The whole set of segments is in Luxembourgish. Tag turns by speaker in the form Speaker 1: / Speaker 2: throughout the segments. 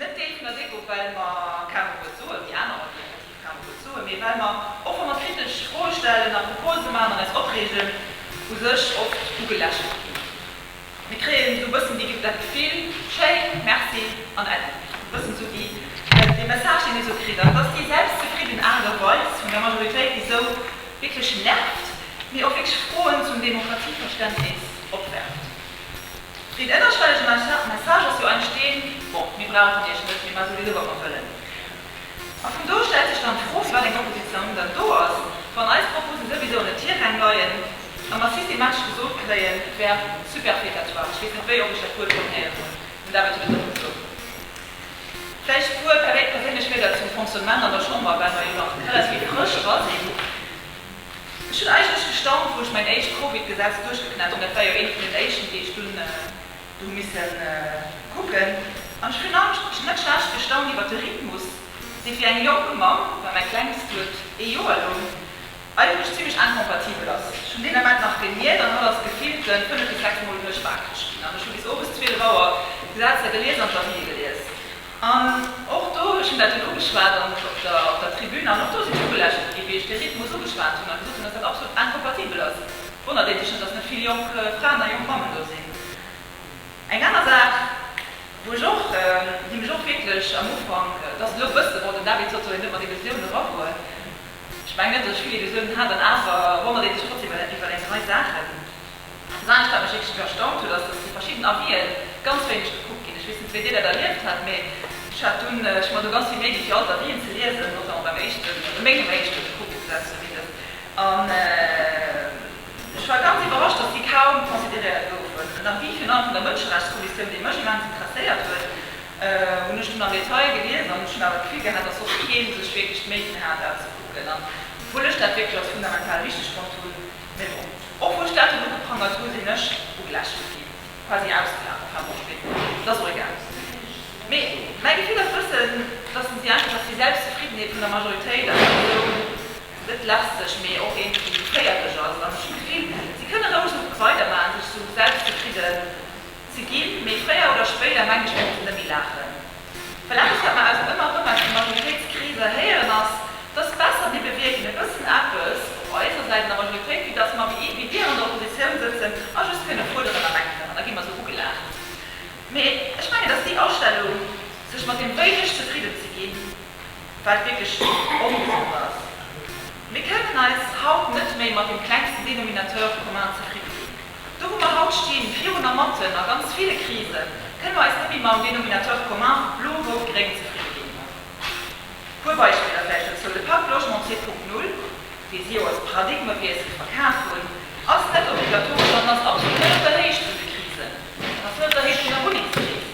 Speaker 1: Net géifen der Deko, well mer kengem e Wuert soen, déi aner Leit effektiv kengem e Wuert soen, mee well mer, och wa mer kritesch Froe stellen a Propose maachen an eis opreegen, u sech oft ugelächelt ginn. Mir kréien esou e bëssen déi, dat Gefill, schéin, merci an äddi. E bëssen esou déi, dee Message, deen ee sou kritt, an et ass déi selbstzefridden Aart a Weis vun der Majoritéit, déi esou wierklech nervt, mee och wierklech Froen zum Demokratieverständnis opwerft. Deen ënnerschwellege Message ass jo entsteen, Bon, mir brauchen iech net, mir ma souwisou wat mer wëllen. A vun do stellt sech dann d'Fro, firwat eng Opposition dann do ass, wann eis Propose souwisou an den Tiräng leien a mer systematesch gesot kréien, Verbe superfétatoire, ech weess net, wéi oft ech dat Wuert schonn héieren hunn, den David huet et och gesot. Vläicht e puer perséinlech Wierder zum Fonctionnement an der Chamber, well mer jo nach relativ frësch hei sinn. Ech hunn eigentlech gestaunt, wou ech mäin éischt Covid-Gesetz duerchgeknat hunn, dat war jo eent vun den éischten, déi ech dunn hu misse kucken, an ech hunn eigentlech net schlecht gestaunt iwwer de Rhythmus, dee fir eng jonk Mamm, well mäi Klengst huet ee Joer elong, eigentlech zimlech incompatibel ass. Ech hunn deen Ament nach geniert an hatt ass gefillte fënnef bis sechs Mol duerch waakreg ginn, an ech hu bis owes 12 Auer d'Gesetzer gelies an d'Avisë gelies. An och do, ech hunn dat dunn ugeschwat an op der Tribün an och do sinn ech ugelächelt ginn, wéi ech de Rhythmus ugeschwat hunn a gesot hunn, datt dat absolut incompatibel ass. Wonnert ee sech net, datt net vill jonk Fraen a jonk Mammen do sinn. Eng aner Saach, wou ech och, déi mech och wierklech am Ufank, et ass elo e bësse, bon, den David sot soll een net mat Illusiounen eragoen, ech mengen net, datt ech vill Illusiounen hat, an awer wonnert ee sech trotzdeem iwwer eng Rei Saachen. An dat anescht, wat mech wierklech erstaunt huet, ass, dass zu verschidden Avis'en ganz wéineg gekuckt ginn. Ech weess net, wéi Dir dat erlieft hätt, mee ech hat dunn, ech hu mer do ganz vill Méi gi fir all d'Avis'en ze liesen, notamment beim éischten, also mengem éischten gekuckt ze setzen, wéi dëst, an ech war ganz iwwerrascht, dass déi kaum consideréiert goufen. En Avis virun allem vun der Mënscherechtskommissioun, dee mech immens interesséiert huet, hunn ech dunn am Detail gelies an ech hunn awer d'Gefill gehat, dass och kee sech wierklech d'Méi ginn hat, dat ze kucken, an obwuel ech dat wierklech als fundamental wichteg fonnt hunn. Mais bon, och wou ech dat dunn ugeprangert hu sinn ech ugelächelt ginn, quasi ausgelaf e paar Woch spéider, et ass och egal. Mais mäi Gefill ass bëssen, dass en si einfach, dass déi Selbstzefriddenheet vun der Majoritéit einfach esou net lästeg, mais och iergendwéi féierlech ass an ech hu d'Gefill, si kënne roueg esou weidermachen, sech esou selbstzefridden. Ze ginn, mee fréier oder spéider, mengen ech, muss en nëmme laachen. Well eppes, wat mer aus ëmmer erëm aus de Majoritéitskreeser héieren, ass, dass besser mir bewierken e bëssen eppes op eiser Säit an der Majoritéit, wéi dass mer wéi Dir an der Oppositioun sëtzen a just kënne fuerderen a meckeren an da gi mer esou ugelaacht. Mee ech mengen, dass déi Astellung, sech mat deem Wéineg zefridden ze ginn, wat wierklech ongesond ass. Mir kënnen eis haut net méi mat dem klengsten Dénominateur commun zefridde ginn. Do wou mer haut stinn, virun a matten a ganz ville Krisen, kënne mer eis net méi mam Dénominateur commun vu blo-rout-gréng zefridde ginn. E puer Beispiller vläicht dozou, De Pak Logement 2.0, dee si jo als Paradigmewiessel verkaf hunn, ass net obligatoresch an ass absolut net op der Héicht vun de Krisen. En ass net op der Héicht vun der Wunnengskris.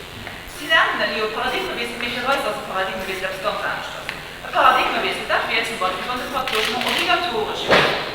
Speaker 1: Si nennen en elo Paradigmewiessel, mee fir eis ass e Paradigmewiessel eppes ganz aneschters. E Paradigmewiessel, dat wier zum Beispill, wann de Pak Logement obligatoresch wier.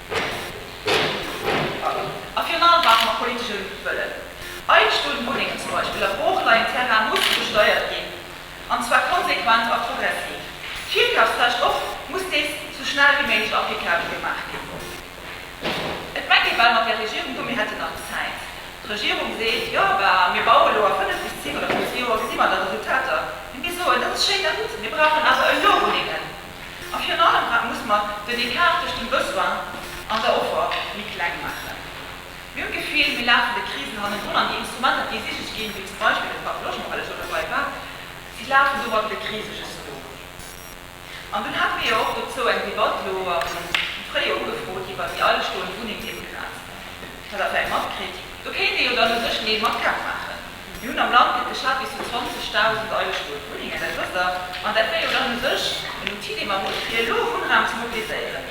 Speaker 1: A virun allem brauche mer politeschen Wëllen. Eigentumswunnengen zum Beispill a Brooklinen Terrain musse besteiert ginn, an zwar konsequent a progressiv. D'Virkafsrecht och, muss dees sou schnell wéi méiglech applicabel gemaach ginn. Et mengt ee bal mat där Regierung do, mir hätten nach Zäit. D'Regierung seet, jo bah, mir baue lo a 5 bis 7 oder 15 Joer gesi mer da Resultater. Mee mir soen, dat ass schéin a gutt, mir brauchen awer elo Wunnengen. A virun allem, wat muss mer den Ecart tëscht dem Besoin an der Offer méi kleng maachen? Mir hunn d'Gefill, mir lafen de Krisen hannendrun, an déi Instrumenter, déi ésich ginn, wéi zum Beispill de Parc logement, well ech lo dobei war, si lafen domadder de Krise just no. An dunn hate mir jo och dozou eng Debatt lo am Fréijoer ugefrot iwwert déi eilechstoend Wunnengdemografen. Dat hat Der jo matkritt. Do kéint ee jo dann u sech méi mat Käpp maachen. Mir hunn am Land wierklech Leit bis zu 20.000 eigenstëmmeg Wunnengen, dat wësst Der, an dat wär jo dann u sech en Outil, dee mer hunn, fir elo Wunnraum ze mobiliséieren.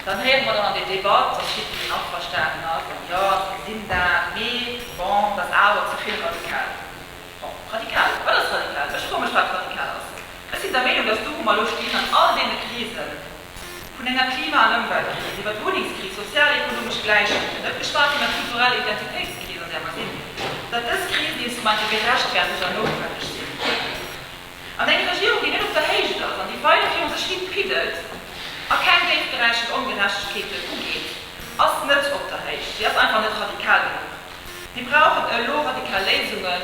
Speaker 1: Dann héiere mer dann an der Debatt, dass jiddwereen averstanen ass an, Jo, mir sinn dat, mee bon, dat ass awer ze vill radikal. Bon, radikal, wat ass radikal? Ech froe mech, wat radikal ass. Ech sinn der Meenung, dass do, wou mer elo stinn, an all deene Krisen, Vun enger Klima an Ëmweltkris, iwwer d'Wunnengskris, sozial-ekonomesch Gläichheet, fir net geschwat vun der kultureller Identitéitskris, an där mer sinn, datt dës Krisen deels um Enn gerechtfertegt an noutwenneg sinn. An eng Regierung, déi net op der Héicht ass an déi weider virun sech hi piddelt a keng déifgräichend Ongerechtegkeeten ugeet, ass net op der Héicht. Si ass einfach net radikal genuch. Mir brauchen elo radikal Léisungen.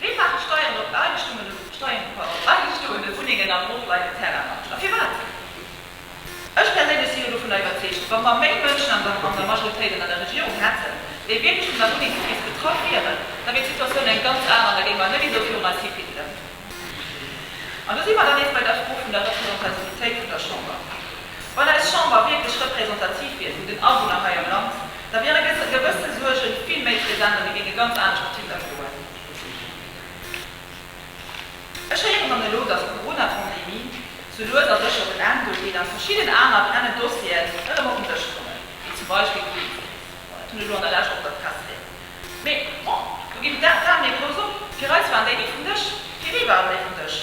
Speaker 1: Ween maache Steieren op Ageschtungen oder op Steieren op agestoene Wunnengen a Brot bei den Terrainmanagern? A firwat? Ech perséinlech sinn elo dovunner iwwerzeegt, wa mer méi Mënschen an der Majoritéit an an der Regierung hätten, déi wierklech vun der Wunnengskris betraff wieren, da wier d'Situatioun eng ganz aner an da géing mer net esou virun eis hi piddelen. An do si mer dann nees bei der Fro vun der Representativitéit vun der Chamber. Wann eis Chamber wierklech representativ wier vun den Awunner hei am Land, da wiere gewësse Suerge vill méi present an déi géinge ganz anescht op Tinder stoen. Ech héieren dann elo, datt d'Corona-Pandemie sou lues a sécher op en Enn duergeet an verschidden aner brennend Dossieren erëm op den Dësch kommen, wéi zum Beispill d'Politik. Bon, dat hunn elo an der Lescht och der Press léieren gelooss. Mee bon, do ginn d'Zahlen ee Kloos op, fir eis waren déi ni vum Dësch. Fir wie waren déi vum Dësch?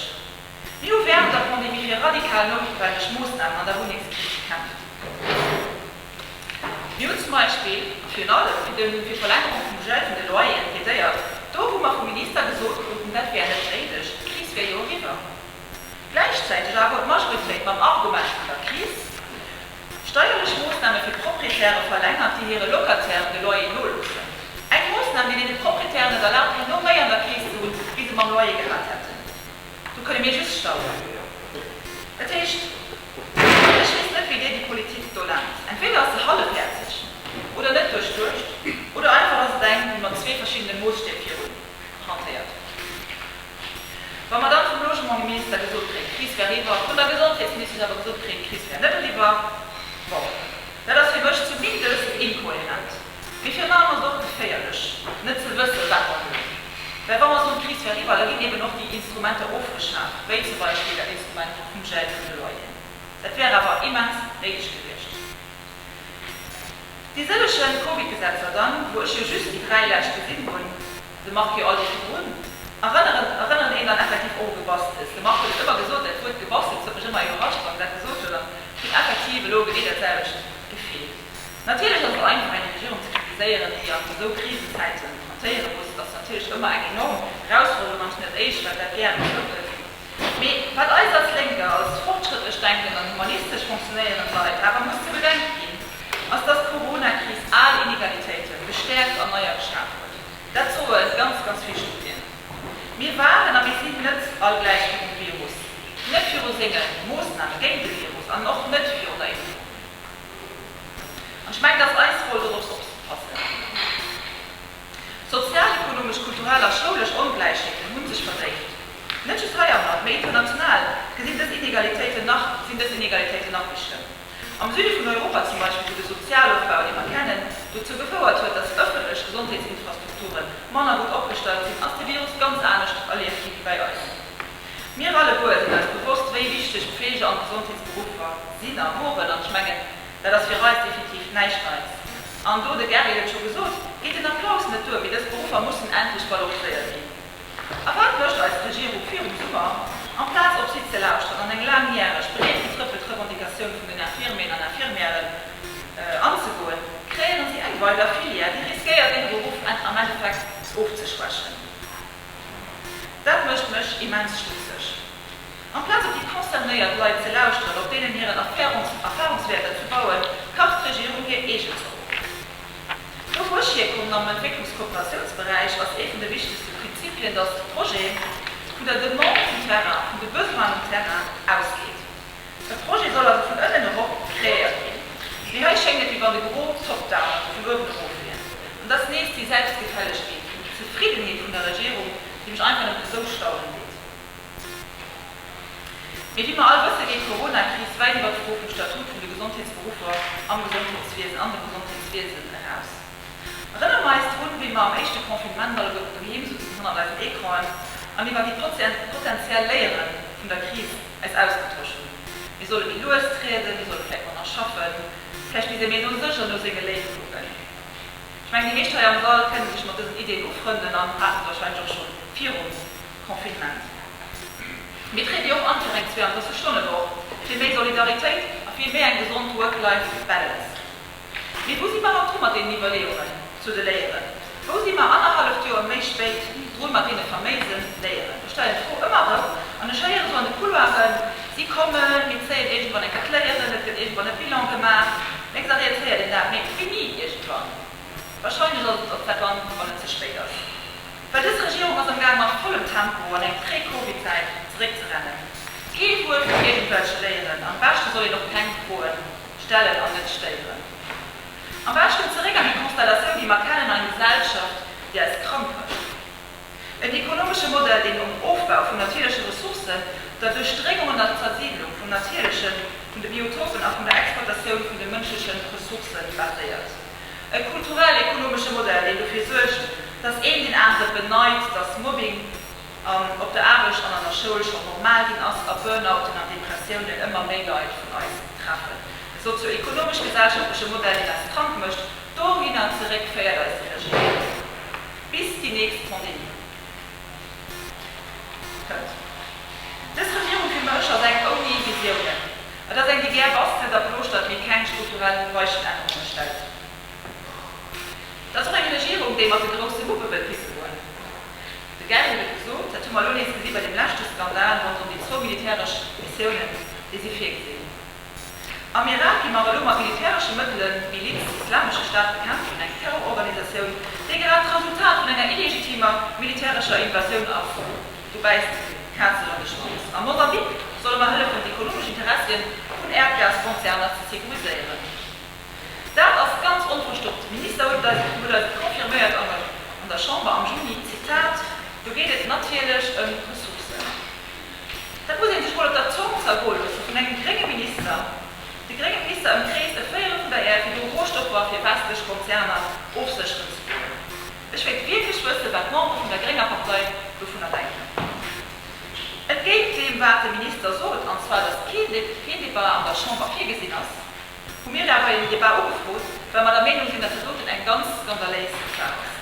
Speaker 1: Mir hu wärend der Pandemie fir radikal noutwenneg Moossnamen an der Wunnengskris gekämpft. Mir hunn zum Beispill virun allem fir de fir Verlängerung vum Gel vun de Loyeren plädéiert, do wou mer vum Minister gesot kruten, dat wär net néideg, d'Kris wär jo eriwwer. Gläichzäiteg awer huet d'Majoritéit mam Argomesch vun der Kris steierlech Moossname fir Proprietäre verlängert, déi hire Locatairen de Loyer noloossen. Eng Moossnam, déi deene Proprietären et erlaabt, herno méi an der Keess ze hunn, wéi se mam Loyer gehat hätten. Do kënne mir just staunen. Dat heescht. Ech weess net, wéi Dir déi Politik do nennt. Entweder ass se hallefhäerzeg oder net duerchduecht oder einfach ass et eng, déi mat zwee verschiddene Moosstäb virun hantéiert. Wa mer dann vum Logementsminister gesot kréien, d'Kris wär eriwwer, vun der Gesondheetsministesch awer gesot kréien, d'Kris wär net eriwwer, bon, dat ass fir mech zumindest inkohärent. Mee fir eran ass et och geféierlech, net ze wëssen, wat mer hunn. Well wa mer esou eng Kris wärriwwer, da ginn eben och déi Instrumenter ofgeschaaft, wéi zum Beispill dat Instrument vum Gel vun de Loyeren. Dat wär awer immens néideg gewiescht. Déi sëlleche Covid-Gesetzer dann, wou ech jo just déi dräi lescht gesinn hunn, de Marc jo all déi virdrun, erënneren, erënneren een dann effektiv och u Gebastels. De Marc huet et ëmmer gesot, dat Wuert Gebastels huet mech ëmmer iwwerrascht, wann en dat gesot huet, an et huet effektiv elo genee dat selwecht gefeelt. Natierlech ass et einfach eng Regierung ze kritiséieren, déi an esou Krisenzäiten hantéiere muss. Et ass natierlech ëmmer eng enorm Erausforderung an hunn et Eech, well dat gär gesot gëtt. Mee wat eis als Lénker als fortschrëttlech denken an humanistesch fonctionéiere Leit awer muss ze bedenke ginn, ass, dass d'Coronakris al Inegalitéite gestäerkt an neier geschaf huet. Dat soe ganz, ganz vill Studien. Mir waren a mir sinn net all gläich virum Virus, net viru senge Moossname géint de Virus an och net virun der Impfung. An ech mengen, et ass eis Roll, dorops opzepassen. Sozialekonomesch, kulturell a schoulesch Ongläichheeten hu sech verdéift. Net just heiamat, mee international gesinn dës Inegalitéiten nach, sinn dës Inegalitéiten nach méi schlëmm. Am Süde vun Europa zum Beispill, wou de Sozialofbau, dee mer kennen, dozou gefouert huet, datt ëffentlech Gesondheetsinfrastrukture manner gutt opgestallt sinn, ass de Virus ganz anescht erlieft gi wéi bei eis. Mir alleguer sinn eis bewosst, wéi wichteg d'Pflege an d'Gesondheetsberuffer sinn a woren. An ech mengen, dat ass fir eis definitiv näischt Neits. An do, de Gary huet et scho gesot, geet den Applaus net duer, mee dës Beruffer mussen endlech valoriséiert ginn. A wat mécht eis Regierung virum Summer? Amplaz op si ze lauschteren an eng laangjäreg, breet getrëppelt Revendicatioun vun den Infirmieren an Infirmièren anzegoen, kreéiere si eng weider Filière, déi riskéiert, hire Beruff am Endeffekt ofzeschwächen. Dat mécht mech immens stutzeg. Amplaz op déi concernéiert Leit ze lauschteren, op deenen hiren Erfahrungswäerter ze bauen, kacht d'Regierung hir eegen Zopp op. Do wou ech hierkommen, am Entwécklungskooperatiounsberäich, ass ee vun de wichtegste Prinzipien, datt de Projet vun der Demande vum Terrain, vun de Besoinen um Terrain ausgeet. De Projet soll also vun ënnen erop kreéiert ginn, mee hei schéngt et wéi wann de Gros Top-down, also vun uewen erof, wier. An et ass nees déi Selbstgefällegkeet, déi Zefriddenheet vun der Regierung, déi mech einfach net esou staunen deet. Mee wéi mer all wëssen, geet d'Corona-Kris wäit iwwer d'Fro vum Statut vun de Gesondheetsberuffer am Gesondheetswiesen, an dem Gesondheetswiesen, eraus. Erënnere mer eis drun, wéi mer am éischte Confinement alleguerten doheem sutzen, hannert eisen Ecranen, an iwwer déi potenziell Léiere vun der Kris, eis ausgetosch hunn. Mir solle méi lues trieden, mir solle vläicht manner schaffen, vläicht misst ee méi no sech an no senge Léift kucken. Ech mengen, déi meescht hei am Sall kënne sech mat dësen Ideeën ufrënden an haten se warscheinlech och scho virum Confinement. Mir triede jo och an fir eng 32 Stonne Woch, fir méi Solidaritéit a fir méi eng gesond Work-Life-Balance. Mee wou si mer mat dru mat deenen Iwwerleeungen zu de Léieren? Wou si mer annerhalleft Joer méi spéit dru mat deene faméise Léieren? Ech stellen d'Fro ëmmer erëm an ech héieren esou an de Couloiren, si kommen, mir zéien iergendwann eng Kéier d'Léieren, et gëtt iergendwann e Bilan gemaach. Lénks a riets héiert een dat, mee et fini iergendwann. Wahrscheinlech ass et och dat dann, wann et ze spéit ass. Well dës Regierung ass amgaang mat vollem Tempo an eng Pré-Covid-Zäit zeréckzerennen. Kee Wuert vun iergendwelche Léieren an am beschte soll een och keng froen. Stellen an net stéieren. Am beschten zeréck an déi Konstellatioun, déi mer kennen, eng Gesellschaft, déi eis krank mécht. En ekonomesche Modell, deen um Ofbau vun natierleche Ressourcen, der Duerchdréngung an der Zersiidlung vum Natierlechen, vun de Biotopen a vun der Exploitatioun vun de mënschleche Ressourcë baséiert. E kulturell-ekonomesche Modell, deen dofir suergt, datt een deen anere beneit, datt Mobbing, op der Aarbecht an an der Schoul schonn normal ginn ass a Burnouten an Depressiounen ëmmer méi Leit vun eis treffen. De sozio-ekonomesch-gesellschaftleche Modell, deen eis krank mécht, dohinner zeréck féiert eis iwwerreguléiert. Bis déi nächst Pandemie kënnt. Dës Regierung fir mech ass eng ouni Visiounen. Et ass eng, déi gär bastelt a plooschtert, mee keng strukturell Weichenännerunge stellt. Et ass och eng Regierung, déi mat de grousse Muppe wëllt pisse goen. De Geigen huet gesot, dat hu mer elo nees gesi bei deem leschte Skandal ronderëm déi zwou militäresch Missiounen, déi si virgesinn. Am Irak gi mer elo mat militäresche Mëttele d'Miliz Islamesche Staat bekämpfen, eng Terrororganisatioun, déi grad d'Resultat vun enger illegitimer militärescher Invasioun ass. Do bäisst d'Kaz elo an de Schwanz. A Mosambik solle mer hëllefen, d'ekonomesch Interessien vun Äerdgaskonzerner ze securiséieren. Dat ass ganz onverstoppt. De Minister huet dat confirméiert an der Chamber am Juni, Zitat, Do geet et natierlech ëm Ressourcen. Dat muss ee sech mol op der Zong zergoe loosse vun engem grénge Minister. De grénge Minister ëmkreest e Véierel vun der Äerd, fir do Rohstoffer fir westlech Konzerner ofsécheren ze goen. Ech wéilt wierklech wëssen, wat d'Membere vun der grénger Partei dovunner denken. Entgéint deem, wat de Minister sot, an zwar, datt keen Débat an der Chamber virgesinn ass, Hu mir daer bei dem Debat ugefrot, well mer der Meenung sinn, datt se doten eng ganz skandaléis Saach ass.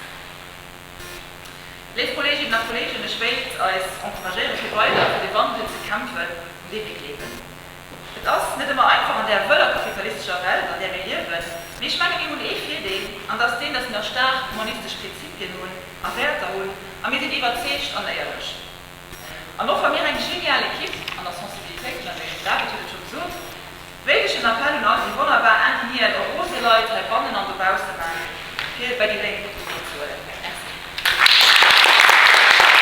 Speaker 1: Léif Kolleeginnen a Kolleegen, ech wéilt eis encouragéieren, fir weider fir de Wandel ze kämpfen, un dee mir gleewen. Et ass net ëmmer einfach an där wëller kapitalistescher Welt, an där mir liewen, mee ech menge mir hunn ee Virdeel, an dass deen, dass mir nach staark humanistesch Prinzipien hunn a Wäerter hunn a mir sinn iwwerzeegt an éierlech. An och wa mir eng genial Equipe an der Sensibilitéiten an Jason David huet et scho gesot, wéilt ech en Appell un all déi wonnerbar Ingenieuren a rose Leit hei bannen an dobausse maachen, fir bei déi Lénk net dovunner ze huelen. Merci.